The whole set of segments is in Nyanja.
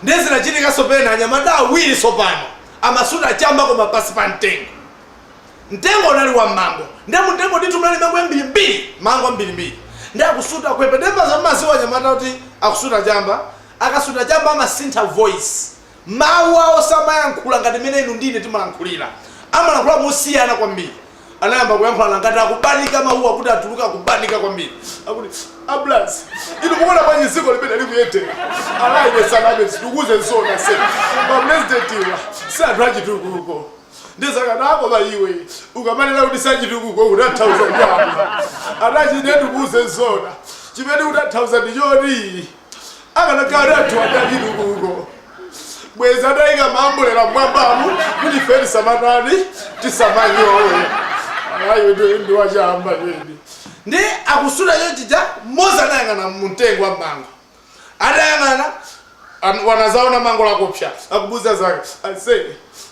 Ndiye zinachitikanso pena, anyamata awiri tsopano, amasuta chamba koma pansi pa mtengo. Mtengo unali wa mango, ndiye mu mtengo ndithu munali mango yambirimbiri, mango ambirimbiri. Ndiye akusuta, akupepetemba ndiye mumadziwa anyamata kuti akusuta chamba, akasuta chamba amasintha voice, mawu awo samayankhula ngati mmene inu ndi ine timalankhulira, amalankhula mosiyana kwambiri. anayamba kuyankhulana ngati akubanika mawuwa kuti atuluke akubanika kwambiri akuti ablas inu mukuona bwanji dzikoli mmene likuyendera alaine sanabe ndikuuze zoona ase mapurezidentiwa si anthu achitukuko ndizakadako koma iwe ukamanena kuti sachitukuko ukutanthauza chani anachine ndikuuze zoona chimene ndikutanthauza ndi choti akanakhala ndi anthu achitukuko bwezi ataika maambulera mmwambamu kuti ife tisamatani tisamanyowe alayo ndi wachamba kwedi ndiye akusuta chonchija mmodzi anayang'ana mumtengo wa mango atayang'ana an- anazaona mango lakupsa akumuuza nzake ase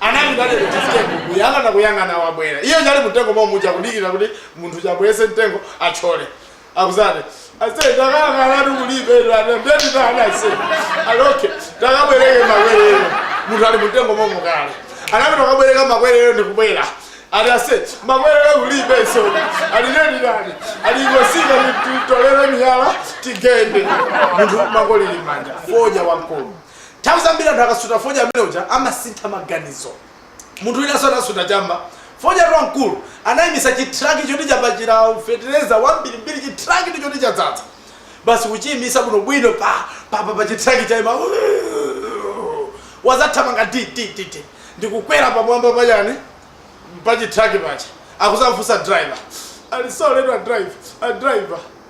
Anali kale ku chisiteko kuyang'ana kuyang'ana wabwera. Iye ali mumtengomo muja kudikira kuti munthu akwere mtengo atchole. Akuzati ase takayang'ana ndi kulibe lwana mbeti tana ase. Ali okay takabwereke makwerero. Munthu ali mumtengomo kale. Anapita kukabwereka makwerero ndi kubwera. Ali ase makwerero kulibenso. Ali nani nani. Ali ingotsika titolere miyala tigende. Munthu mango lili mmanja. Fodya wamkulu. Nthawi zambiri anthu akasuta fodya amene uja amasintha maganizo. Munthu winanso anasuta chamba. Fodyatu wamkulu anaimitsa chitruck choti chapachira fetereza wambirimbiri, chitrucktu choti chadzadza. Basi kuchiimitsa bwinobwino pa, pa, pa, pa chitruck chaima wuuuu, wadzathamanga di, di, di, di, ndi kukwera pamwamba pa chani, pa chitruck paja. Akudzamufunsa driver, ali sorry etu a driver, a driver.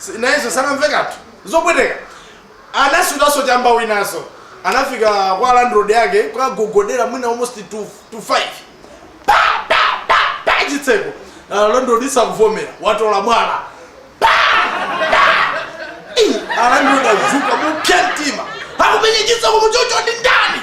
S- nayenso zakumva kanthu zopweteka anasutanso chamba winanso anafika kwa landlord wake kukagogodera mwina almost to, to 5 pa pa pa pa chitseko alandlord sakuvomera watola mwala pa pa Ih, alandlord adzuka mopsya mtima akumenya chitseko chonchoyo ndi ndani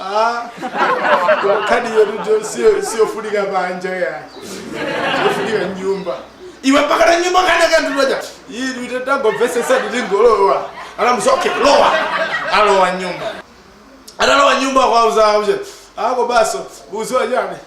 Ah, koma khadi iyo tujo siyo siyofunika panja ya. Siyofunika nyumba. Iwe mpaka na nyumba kana kanduloja. Iyi tuite tango vese sadi tingolowa. Ana msoke lowa. Alowa nyumba. Analowa nyumba kwa uza uje. Ako baso uziwa jani.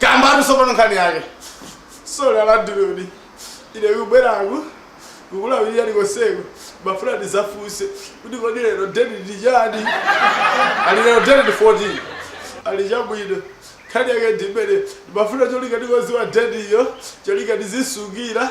Kambani tsopano nkhani yake. Sorry alandilodi. Ine kubweraku kulawirira konseku ndimafuna ndidzafunse kuti kodi lero date ndi chani? Ali lero date ndi 14. Ali chabwino. Nkhani yake ndi imene ndimafuna cholinga ndikadziwa date iyo cholinga ndizisungira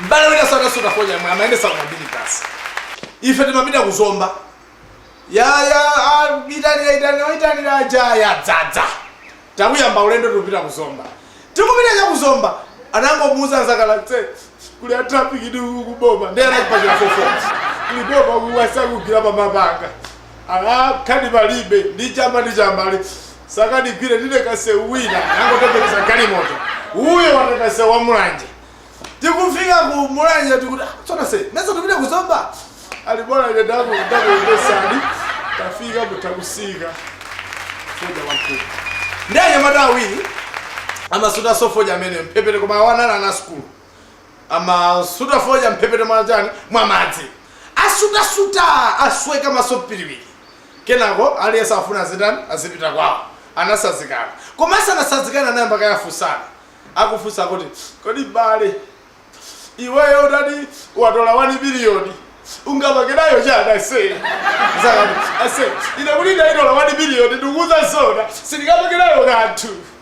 m'bale winanso anasuta fodya yemwe amayendetsa ma minibus basi ife timapita kuzomba ya ya a- itanira itanira itanira kuja yadzadza tauyamba ulendo tikupita kuzomba tikupita cha kuzomba anangomuuza anzake ase kuli a traffic ndi kuboma ndiye anachipachira fofo liboma kuwasakugila pamapanga Ala khani palibe ndi chamba ndi chamba ali sakatigwire ndine kasewu wina anangotembenuza galimoto uyo wata kasewu wa mulanje tikufika ku mulanje tikuti "Ah, tsono se mesa tipite ku zomba ali bora ine ndaku ndakuyendesani tafika mutakusika foja wamkulu ndi anyamata awiri amasuta sofoja amene mpepete koma awa anali ana sukulu amasuta fodya mphepete mwa tani mwa madzi asutasuta asweka maso piriwiri kenako aliyense afuna azitani azipita kwawo anasazikana koma asanasazikana anayamba kayafunsana akufunsa kuti kodi bale iweyo utati watola 1 biliyoni ungapange nayo chani ase Zaka- ase ine kuti ndaitola 1 biliyoni ndikuuza zona sindingapange nayo kanthu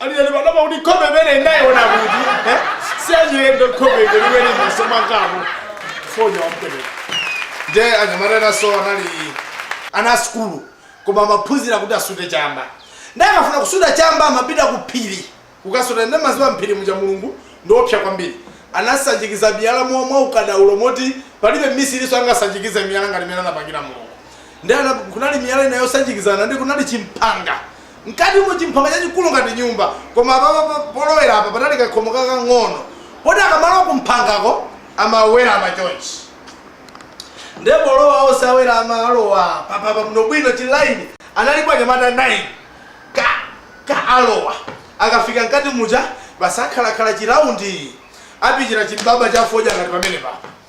Aliyeni panopa kuti nkhope imene inayiona kuti eh, si achilendo nkhope kwenikweni maso mwangamo fodya wampereka nde anyamata enaso anali ana asukulu koma amaphunzira kuti asute chamba nde akafuna kusuta chamba amapita ku phiri kukasuta nde mudziwa mphiri muja mulungu ndiopsa kwambiri anasanjikiza miyala mwa mwa ukadaulo moti palibe mmisiriso angasanjikize miyala ngati mmene anapangira mulungu nde ana- kunali miyala ina yosanjikizana ndi kunali chimphanga Mkatimu chimphanga chachikulu ngati nyumba koma apapa pa polowera apa panali kakhomo kakang'ono poti akamalowa kumphangako amawerama chonchi nde polowa onse awerama alowa papapa bwinobwino chi line analipo anyamata 9 ka ka alowa akafika mkati muja basi akhalakhala chi round apichira chibaba cha fodya ngati pamenepapa.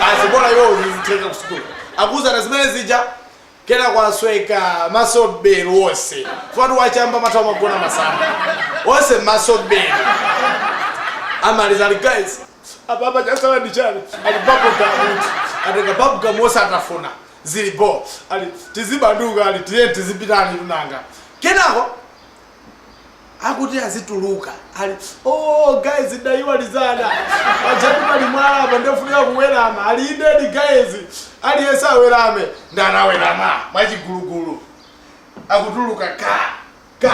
basi bora iwo uzizitenga kusukulu akuzana zimene zija kenaka asweka maso bwelo onse fati wachamba matha magona masamba onse maso bwelo amaliza ali guys apapa chasala ndi chani ali papo kamuti atenga papo kamu onse atafuna zili bho ali tizibanduka ali tiyeni tizipitanitu nanga kenako akuti azituluka ali oh guys ndayiwala paja tu pali mwala apa ndofunika kuwerama ali indedi guys aliyense awerame nde anawerama mwachigulugulu akutuluka ka Ka,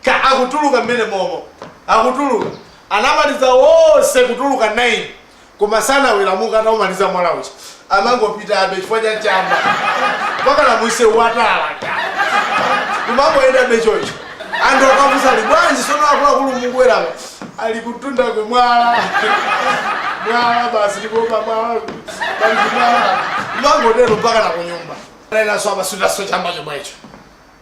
ka, akutuluka mmene momo. Akutuluka. Anamaliza onse kutuluka 9, koma sanawelamuke ataumaliza mwala uja. Amangopitabe chifukwa cha chamba. Mpakana munsewu wa tala, ka. Kumangoyendabe choncho. Anthu akafunsa ali bwanji sono akuluakulu mukuwerama? Ali kutunda ku mwala. Mwala basi ndipo pa mwala. Basi mwala. Mangotero mpaka na kunyumba. Anayenda atasuta chamba chomwecho.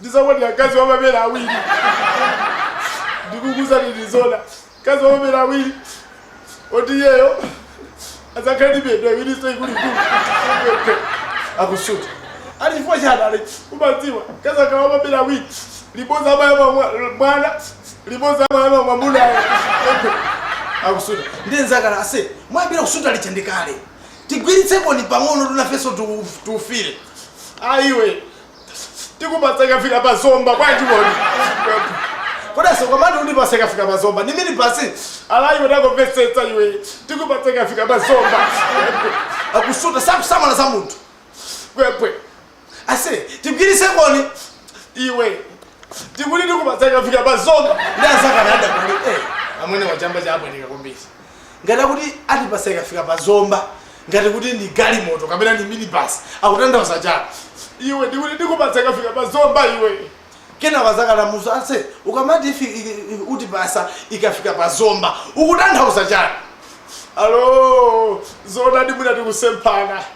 ndizakwatira mkazi wa mabere awiri ndikukuuzani ndi zoona mkazi wa mabere awiri oti iyeyo adzakhale ndi miyendo iwirinso ikuluikulu akusuta ali chifukwa chani ali umadziwa mkazi akhale wa mabere awiri limodzi amayamwa mwa- mwana limodzi amayamwa mwamunayo akusuta ndiye nzake ase mwayamba kusuta liche ndikale Tigwiritsenkoni pang'onotu nafenso tiufire. Ayi iwe tikupatsa ikafika pa Zomba bwanji kodi? Kodi asogwa mati utipatse ikafika pa Zomba ndi minibasi? Ala iwe tangomvetsetsa iwe tikupatsa ikafika pa zomba. Akusuta sakusamala za munthu. Kwekwe. ase tigwiritsenkoni iwe ndikuti ndikupatsa ikafika pa Zomba ndi azakanada kuli eh, amwene wachamba chabweneka kumvetsa ngati akuti atipatsa ikafika pa Zomba ngati kuti ndi galimoto kapena ndi minibus akutanthauza chani iwe ndikuti ndikupatsa ikafika pa Zomba iwe kena wazakalamuso ase ukamati ifi- i- i- utipatsa ikafika pa Zomba ukutanthauza chani alo zoona ndi mwina tikusemphana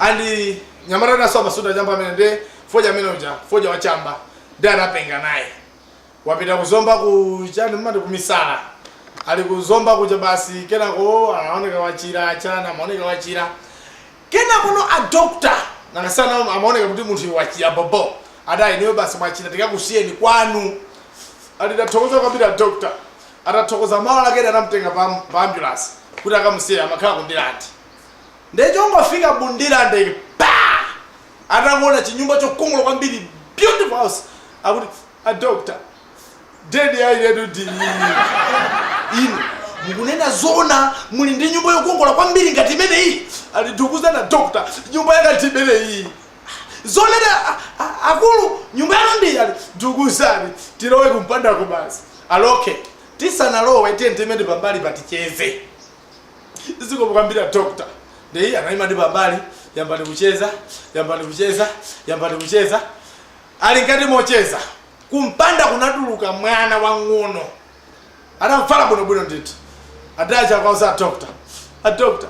and mnyamata wina so amasuta chamba amene ndi fodya amene uja fodya wa chamba ndi anapenga naye wapita ku Zomba ku chani mmati kumisala ali ku Zomba kuja basi kenako anaoneka wachira chana amaoneka wachira kenako no a doctor nangasana amaoneka kuti munthu uyu wachira bobo adayi inuyo basi mwachira tikakusiyeni kwanu ati tathokoza kwambiri a doctor tathokoza mawa lake nde anamtenga pa, pa ambulance kuti akamusiye amakhala ku Ndirande Nde chongofika mu Ndirande ine pah! Atangoona chinyumba chokongola kwambiri beautiful house akuti a doctor den ya ineyotu ndi iyi. Inu mukunena zoona muli ndi nyumba yokongola kwambiri ngati imeneyi? Ati ndikukuuzani a doctor nyumba yanga ndi imeneyi. Ah, zoonadi a a akulu nyumba yanu ndi iyi ati ndikuuzani tilowe kumpandaku basi. Ati okay tisanalowe tiyeni tiime nde pambalipa ticheze. zikomo kwambiri a doctor nde iye anayima nde pambali yamba kucheza yamba kucheza yamba kucheza ali ngati mocheza kumpanda kunatuluka mwana wang'ono atavala bwinobwino ndithu ati atcha akuuza a doctor a doctor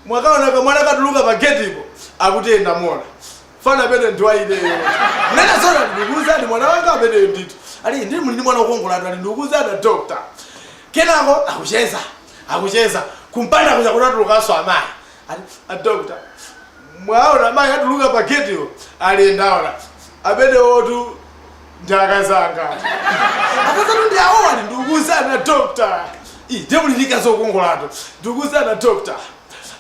mwakaoneka mwana akatuluka pa getipo akuti ee ndamuona mwana amene ndi wa ineyo nena zona ndikuuzani mwana wanga ameneyo ndithu muli ndi ndi mwana wokongola ati ndikuuzani a doctor kenako akucheza akucheza kumpanda kuja kunatulukanso amayi ati a doctor mwaona amayi atuluka pa getiwo ali ndaona amenewotu ndi akazanga akazanu ndi awo ali ndikuuzani a doctor ii nde muli ndi mkazi wokongolatu ndikuuzani a doctor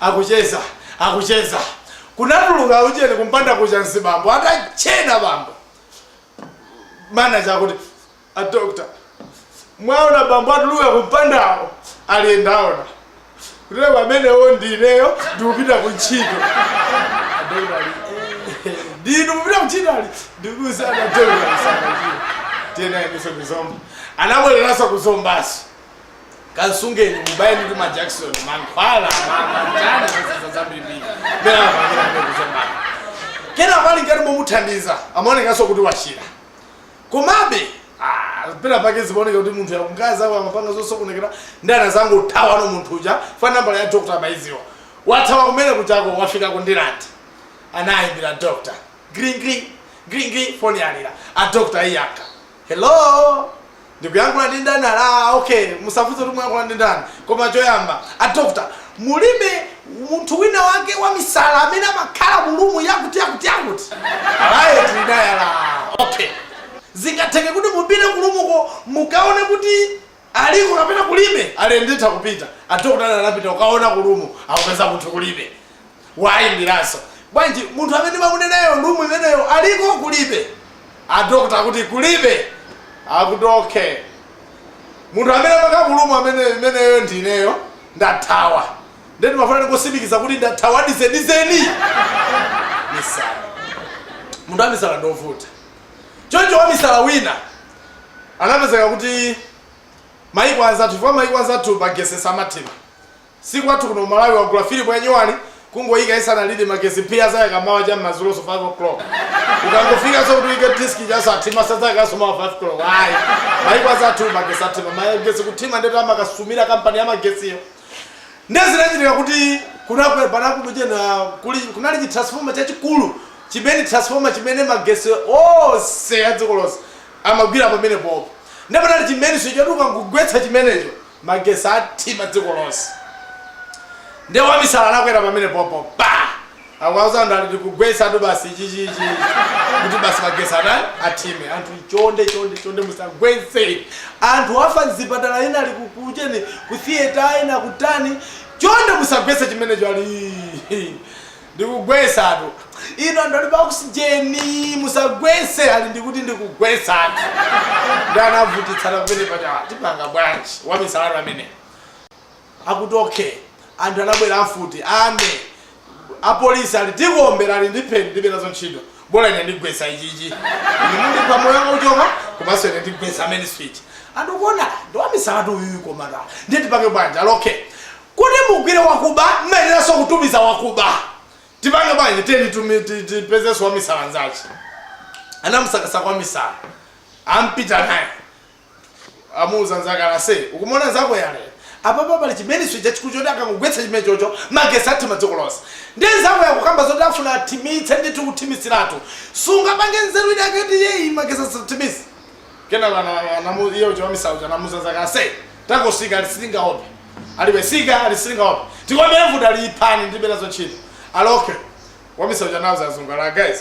akucheza akucheza kunatuluka ujeni kumpanda kucha nzibambo atatchena bambo manaja akuti a doctor mwaona bambo atuluka kumpandawo ali ndaona kutile pamenewo ndineyo ndikupita ku ntchito Adokota ali, "Eh, ndinu kupita ku ntchito ali ndikuuzana dokota sanachira tiyenaeniso kuzomba anabwereranso kuzombaso kansungeni mubayeni ndi majakisoni mankhwala mamandani mazaza zambirimbiri mene amapangira ndikuchomana kenako ali ngati momuthandiza amaonekanso kuti wachira komabe ah, pena pake zimaoneka kuti munthu yakungaza amapanga zosokonekera ndi anazangothawano munthu uja fa nambala ya dokta amaidziwa wathawa kumene kuchako wafika kundirandi anaimbira dokta gringri gringri foni yalira a dokta ayankha Hello? Ndikuyankhula ndi ndani ali ah, okay musafunse kuti muyankhula ndi ndani koma choyamba a doctor mulibe munthu wina wake wamisala amene amakhala mu rumu yakuti yakuti yakuti ali ee tili naye ali okay zingatheke kuti mupite ku rumuko mukaone kuti aliko kapena kulibe ali ee nditha kupita adokotala anapita kukaona ku lumu akupeza munthu kulibe waimbiranso bwanji munthu amene ndimamunenayo lumu imeneyo aliko kulibe adokota akuti kulibe akuti okay munthu amene amakhala ku lumu imeneyo ndineyo ndathawa nde ndimafuna nditsimikize kuti ndathawa di zedizeni misala munthu wamisala ndovuta Choncho wamisala wina anapezeka kuti maiko anzathu chifukwa maiko anzathu magesi samathima si kwathu kuno ku Malawi wagula filimu ya nyuwani kungoika isanalire magesi phee adzayaka mawa cha m'madzulonso 5 o'clock ukangofikanso kuti uike disc ija azathima adzayakanso mawa 5 koloko ayi maiko anzathu magesi athima magesi kuthima ndetu amakasumira kampani ya magesiyo Ndiye zinachitika kuti kunali pena pake kunali chi transformer chachikulu chimene transformer chimene magesi onse a dziko lonse amagwira pamene popo. Ndiye panali chi mainswitch choti ukangogwetsa chimenecho magesi athima dziko lonse. Ndiye wamisala anakwera pamene popo pa! Akuwauza anthu ati ndikugwetsatu basi ichichi ichi kuti basi magesi atani athime anthu chonde chonde chonde musagwetse anthu afa mzipatala ena ali kukucheni ku theater ena kutani chonde musagwetse chimenecho ali ndikugwetsatu ino anthu ali pa oxygen musagwetse ali ndikuti ndikugwetsatu ndi anavutitsana pamene paja tipanga bwanji wamisalatu amene akuti ok anthu anabwera amfuti army apolisi ali tikuombera ali ndipheni ndibe nazo ntchito bola ine ndigwesa ichichi ine mundipha moyo wanga uchoka komanso ine ndigwesa main switch anthu akuona ndiwamisalatu uyuyu komata ndiye tipange bwanji ali ok kuti mugwire wakuba mmayeneranso kutumiza wakuba tipange bwanji tiyeni tumi- ti- tipezenso wamisala nzache anamsakasaka wamisala ampita naye amuuza nzake ali ase ukumuona nzakoyo ali apapa pali chimenecho chachikulu choti akangogwetsa chimenechocho magesi athima dziko lonse ndiye nzakoyo akukamba zoti afuna athimitse ndithu kuthimitsiratu sungapange nzeru inake kuti iyeyu magesi asathimitse kenako ana- anamu- iye uja wamisala uja anamuuza nzake ase tangosika ali sitingaope ali iwe sika ali sitingaope tikuombera mfuti ali iphani ndibe nazo ntchito ali ok wamisala uja anauza azungu ali guys